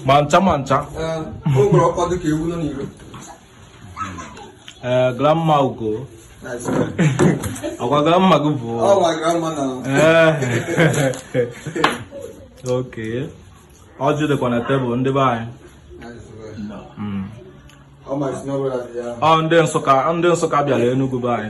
ma ncha ma ncha ee eh, grandma ugo ọkwa grandma gị bụ oke ọjị dịkwa na tebụl ndị be anyị hmm. ọ ndị Nsụka ndị Nsụka bịara Enugu be anyị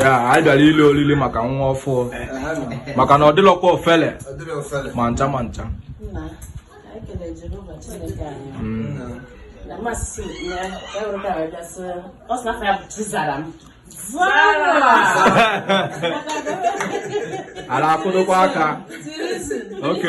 ya anyị bịara ili oriri maka nwa ọfụụ maka na ọ dịlọkwa ofele ma ncha ma ncha ala akwụdokwa aka oke